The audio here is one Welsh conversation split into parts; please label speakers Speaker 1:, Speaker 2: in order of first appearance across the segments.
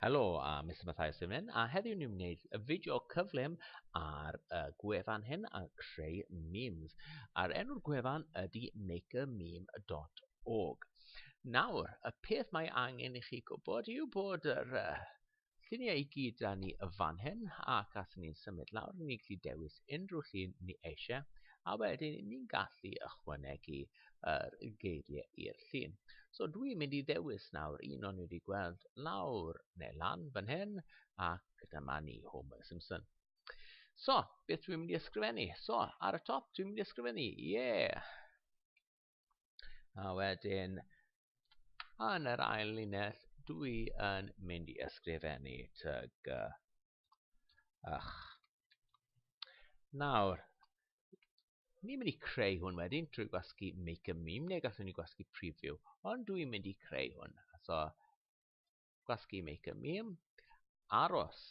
Speaker 1: Helo, a Mr Mathias Dyfnyn, a heddiw ni'n wneud y fideo cyflym ar y gwefan hyn a creu memes. A'r enw'r gwefan ydy makermeme.org. Nawr, y peth mae angen i chi gwybod yw bod yr uh, lluniau i gyd da ni y fan hyn ac at ni'n symud lawr ni'n gallu dewis unrhyw llun ni eisiau a wedyn ni'n gallu ychwanegu yr geiriau i'r llun. So dwi'n mynd i ddewis nawr un o'n i wedi gweld lawr neu lan fan hyn ac dyma ni Homer Simpson. So, beth dwi'n mynd i ysgrifennu? So, ar y top dwi'n mynd i ysgrifennu, ie! Yeah. A wedyn, yn yr ail linell, dwi yn mynd i ysgrifennu tyg ych. Nawr, ni'n mynd i creu hwn wedyn trwy gwasgu make a meme, neu gallwn ni gwasgu preview, ond dwi'n mynd i creu hwn. So, gwasgu make a meme, aros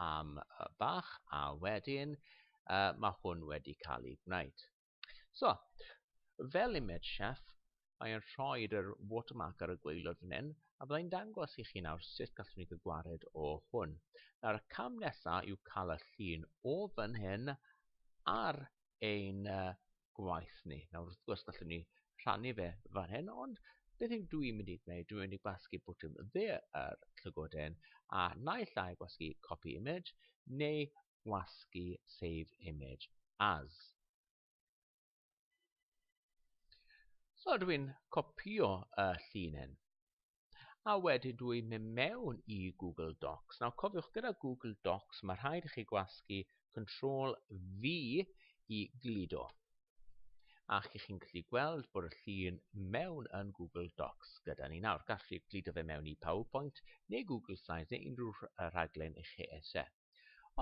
Speaker 1: am bach, a wedyn, uh, mae hwn wedi cael ei gwneud. So, fel imed chef, mae e'n rhoi yr watermark ar y gweilod fan hyn, a byddai'n dangos i chi nawr sut gallwn ni gwared o hwn. Nawr, y cam nesaf yw cael y llun o fan hyn ar ein gwaith ni. Nawr, wrth gwrs, gallwn ni rhannu fe fan hyn, ond beth yw dwi'n mynd i gwneud? Dwi'n mynd i gwasgu bwtwm dde yr llygoden, a naill ai gwasgu copy image, neu wasgu save image as. So dw i'n copio y llinyn a wedyn dw i'n mynd mewn i Google Docs. Nawr cofiwch gyda Google Docs mae rhaid i chi gwasgu Ctrl V i gludo. A chi chi'n gallu gweld bod y llun mewn yn Google Docs gyda ni nawr. Gallwch chi gludo fe mewn i PowerPoint neu Google Slides neu unrhyw rhaglen i chi eisiau.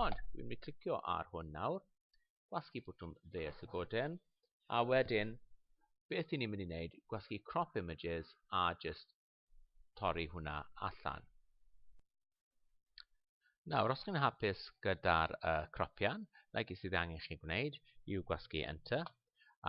Speaker 1: Ond dwi'n mynd i clicio ar hwn nawr, gwasgu bwtwm dde a llygoden, a wedyn beth i ni'n mynd i wneud, gwasgu crop images a just torri hwnna allan. Nawr, os chi'n hapus gyda'r uh, cropian, like sydd angen chi gwneud yw gwasgu enter,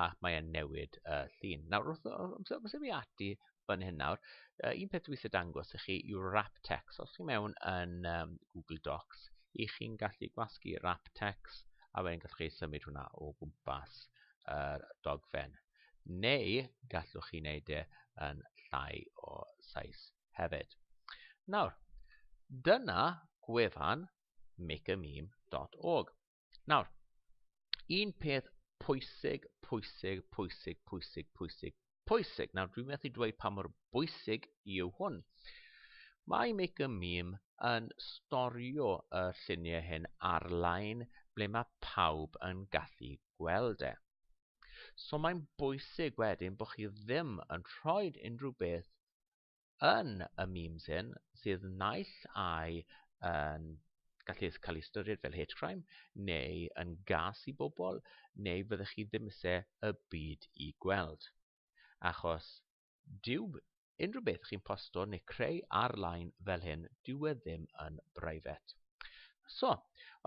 Speaker 1: a mae e'n newid y uh, llun. Nawr, wrth ymwneud fi ati fan hyn nawr, uh, un peth dwi'n dangos i chi yw wrap text. Os chi mewn yn um, Google Docs, i chi'n gallu gwasgu wrap text a wedyn gallwch chi symud hwnna o gwmpas yr uh, dogfen. Neu gallwch chi wneud e yn llai o sais hefyd. Nawr, dyna gwefan makeameme.org. Nawr, un peth pwysig, pwysig, pwysig, pwysig, pwysig, pwysig. Nawr, dwi'n methu dweud pa mor bwysig yw hwn. Mae Make a Meme yn storio y lluniau hyn ar-lein ble mae pawb yn gallu gweld e. So mae'n bwysig wedyn bod chi ddim yn rhoi unrhyw beth yn y memes hyn sydd naill ai yn gallu cael ei ystyried fel hate crime neu yn gas i bobl neu fyddech chi ddim eisiau y byd i gweld. Achos dyw unrhyw beth chi'n posto neu creu ar-lein fel hyn, dyw e ddim yn brifet. So,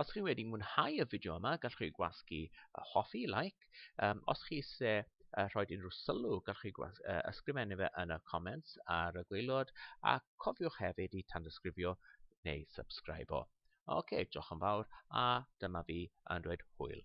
Speaker 1: os chi wedi mwynhau y fideo yma, gallwch chi gwasgu y hoffi, like. Um, os chi eisiau uh, rhoi unrhyw sylw, gallwch chi gwas, uh, ysgrifennu fe yn y comments ar y gweilod, a cofiwch hefyd i tandysgrifio neu subscribe o. Oce, okay, diolch yn fawr, a dyma fi yn dweud hwyl.